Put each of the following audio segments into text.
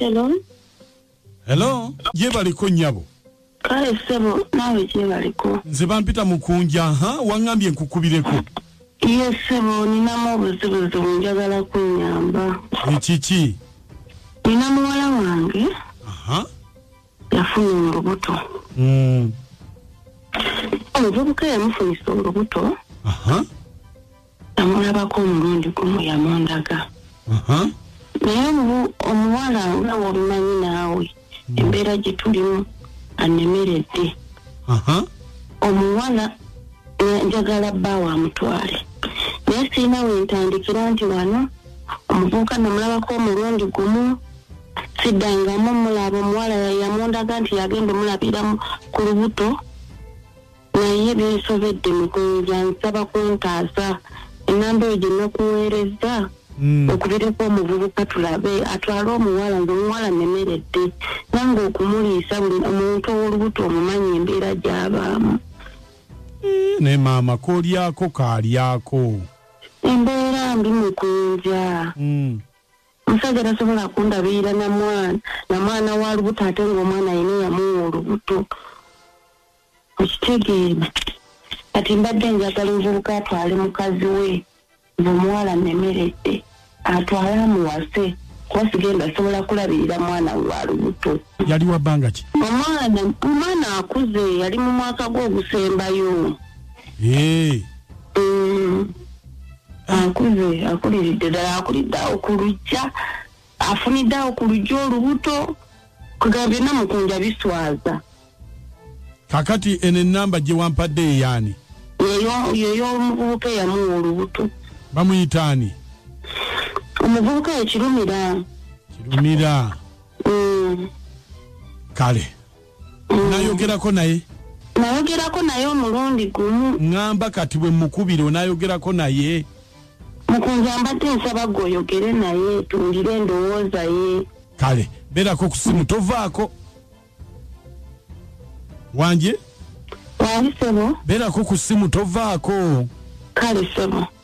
Hello. Hello, ye baliko nyabo. Kale sebo nawe je baliko. Nze bampita mukunja ha wangambye nkukubireko. Ye sebo nina mu buzibuzi njagala kunyamba. Ekiki? Nina muwala wange. Aha. Uh -huh. yafuna olubuto Mm. omuvubuka eyamufunisa olubuto Aha. yamulabako omulundi gumu yamundaga Aha. naye omu- omuwala nga wobimanyi naawe embeera gye tulimu anemeredde Aha. omuwala na- njagala bba wamutwale naye sirina wentandikira nti wano omuvubuka namulabako omulundi gumu siddangamu mulaba omuwala yamundaga nti yagenda omulabira ku lubuto naye binsobedde mukunza nsaba kuntaasa enamba eyo gye nakuweerezza Mm. okubireko omuvubuka tulabe atwale omuwala nga omuwala nemeredde nange okumuliisa buli omuntu owolubuto omumanyi embeera gyabaamu eh, naye maama kolyako kalyako embeera mbi mukunja mm. Omusajja tasobola kundabirira na mwana na mwana wa lubuto ate ng'omwana yina yamuwa olubuto okitegeera kati mbadde njagala omuvubuka atwale mukazi we ngaomuwala nemeredde atwale amuwase kuba sigenda asobola kulabirira mwana we wa lubuto yali wa bbanga ki omwana omwana akuze yali mu mwaka gwe ogusembayo mm. akuze akuliridde ddala akulidde awo ku lujja afunidde awo ku lujja olubuto kugamba byonna mukunja biswaza kakati eno enamba gye wampadde eyaani yeyo omuvubuka eyamuwa olubuto bamuyita ani omuvubuka yekirumira kirumira mm. kale nayogerako naye nayogerako naye omulundi gumu ŋamba kati bwe mukubira onayogerako naye mukunza mbadde nsaba gwe oyogere naye tuwulire endowooza ye kale berako ku simu tovaako wanje wali sebo berako ku simu tovaako kale sebo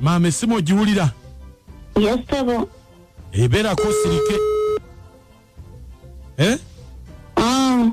maama esimu ogiwulira yesebo ebeerako osirike eh? mm.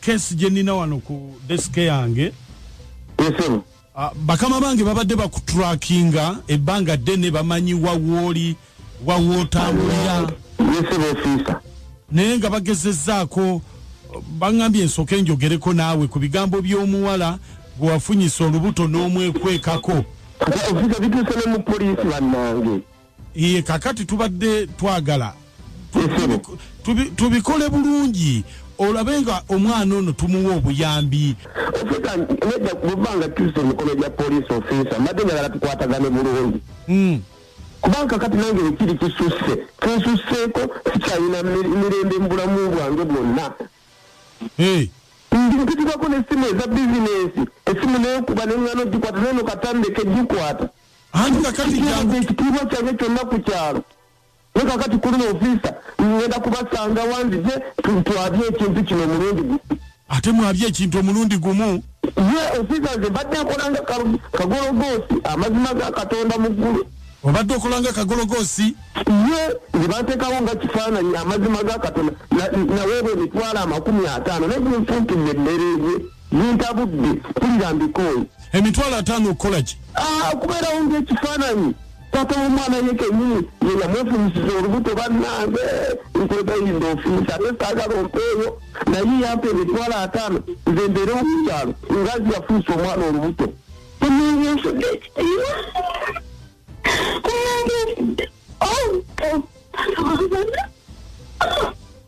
kesi gye nnina wano ku desike yange ah, bakama bange babadde bakuturakinga ebbanga ddene bamanyi wawooli wawootambulira naye nga bagezezaako baŋambye ensooka enjogereko naawe ku bigambo by'omuwala gwe wafunyisa olubuto n'omwekwekako bituuse ne mu poliisi bannange Iye kakati tubadde twagala tubikole bulungi olabe nga omwana ono tumuwa obuyambi ofisa nedda kubanga tusa emikono gya poliisi ofisa mbadde njagala tukwatagane bulungi hmm. kubanga kati nange ekiri kisusse kinsusseeko sikyalina mirembe mu bulamu bwange bwonna ndi mpitibwako n'essimu eza bizinensi essimu neyokuba neŋŋana ogikwata nono katandeke gikwata anti kakati kyangu ekitiibwa kyange kyonna ku kyalo ne kakati kulina ofiisa ngenda kubasanga wanzije twabye ekintu kino omulundi gumu ate mwabye ekintu omulundi gumu ye ofiisa nze mbadde nkolanga kagologoosi amazima ga katonda mu ggulu obadde okolanga kagologoosi ye nze banteekawo nga kifaananyi amazima ga katonda naweebwa emitwalo amakumi ataano naye gunfuntidde emmereeze Nintabudde kulira mbikooye. Emitwalo ataano okukola ki? Ah, okubeerawo ng'ekifaananyi. Taata w'omwana ye kennyini ye yamwefunyisiza olubuto bannange nkwegayirira ofiisa naye saagala ompeeyo naye yampa emitwalo ataano nze mbeere omukyalo nga nzi yafunyisa omwana olubuto. Omunyesudde ekitiibwa. Omunyesudde. Oh, oh.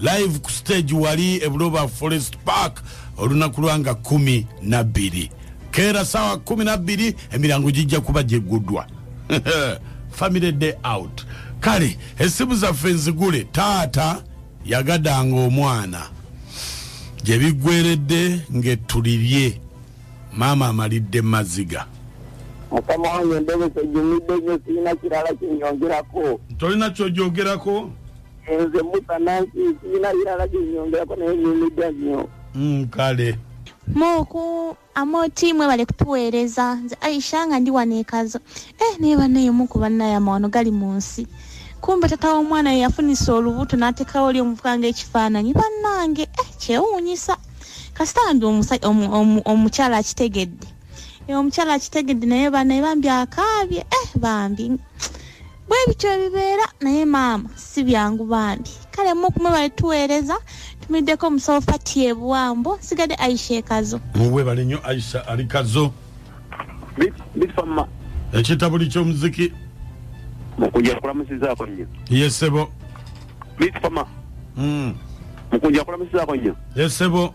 live ku stage wali ebuloba forest park olunaku lwanga kumi nabbiri keera sawa kumi nabbiri emirango gijja kuba gyeggudwa family day out kale esimu zaffe nzigule taata yagadanga omwana gyebiggweredde ngetulibye maama amalidde maziga mukama wange ndobesa ejumidde nyo sirina kirala kyenyongerako tolina kyojogerako nze musa nansi sirina birala byenyongerako naye nyumidwa nnyo Mm, kale muku amoti mwebale kutuweereza nze aisha nga ndi wano ekazo eh naye banaye muku banaye amawano gali mu nsi kumbe tata w'omwana ye yafunisa olubuto n'ateekawo oli omuvuka ng'ekifaananyi bannange eh kyewuunyisa kasita bambi omusa- omu- omu- omukyala akitegedde Eh, omukyala akitegedde naye banaye bambi akaabye eh bambi bwe bityo ebibeera naye maama si byangu bambi kale mu kumwebale tuweereza tumiddeko omusawo fati ebuwambo nsigadde aisha ekazo webale nnyo aisha ali kazo ekitabuli ky'omuziki mukunja kulamusizaako nnyo yesebo bitfama hmm. mukunja kulamusizaako nnyo yesebo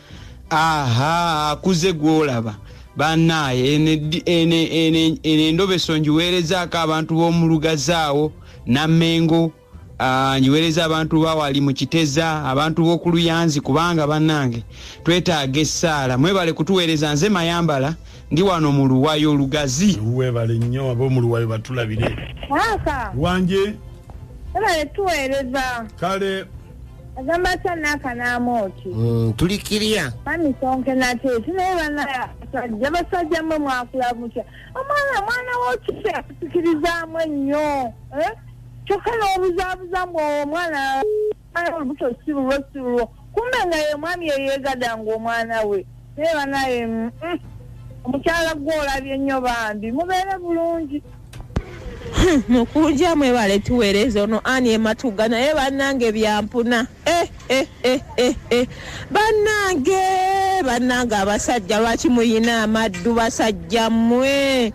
aha akuze gwolaba banaye eno endobeso ngiweerezaako abantu b'omulugazaawo namengo ah, ngiweereza abantu bawali mu kiteza abantu b'okuluyanzi kubanga banange twetaaga essaala mwebale kutuweereza nze mayambala ndi wano mu luwayo lugazi webale nnyo ab'omuluwayo batulabire wanje webale tuweereza kale agamba atya n'akanaama oti Mm, tuli kiriya mami sonke nate tunaye banabasajja basajja mwe mwakula mutya omwana mwana wokise akusikirizaamu ennyo eh? kyokka n'obuzaabuza mbu owo omwana olubuto si lulwo si lulwo kumbe nga ye mwami eyeegada nga omwana we naye banaye mm, mm. omukyala gwe olabye nnyo bambi mubeere bulungi hmm, mukunja mwebale tuweereza ono ani ematuga naye bannange byampuna eh, eh, eh, bannange bannange abasajja lwaki muyina amaddu basajja mmwe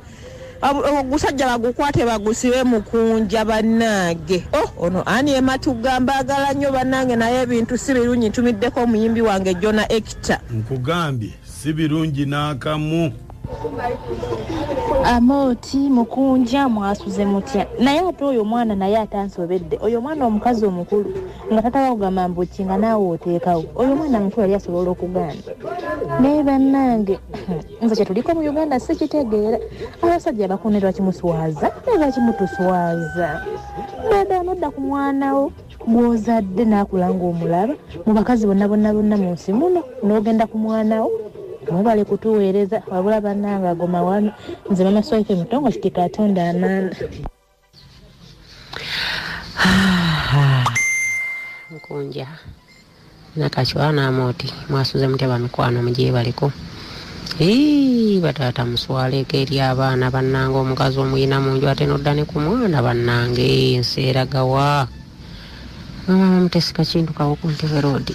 ogusajja bagukwate bagusibe mukunja banange oh, ono ani ematugga mbaagala nnyo banange naye ebintu si birungi ntumiddeko omuyimbi wange jona ekita nkugambye si birungi n'akamu amooti mukunja mwasuze mutya naye ate oyo omwana naye ate ansobedde oyo omwana omukazi omukulu nga tataba kugamba mbuki nga naawe oteekawo oyo omwana mukulu yali asobola okugaana naye bannange nze kyetuliko mu uganda sikitegeera abasajja bakune lwaki muswaza naye lwaki mutuswaza dada nodda ku mwanawo gwozadde nakula ngaomulaba mu bakazi bonna bonna bonna mu nsi muno nogenda ku mwanawo mwebale kutuweereza wabula bananga agomawano nze mama swaife mutongo kiti katonda amaana nkunja nakacwa namoti mwasuze mutya bamikwano mujebaliko Ii, bataata muswaleeko eri abaana bannange omukazi omuyina mu nju ate nodda ne ku mwana bannange ensi eragawa mama mutesika kintu kawo ku ntebe roodi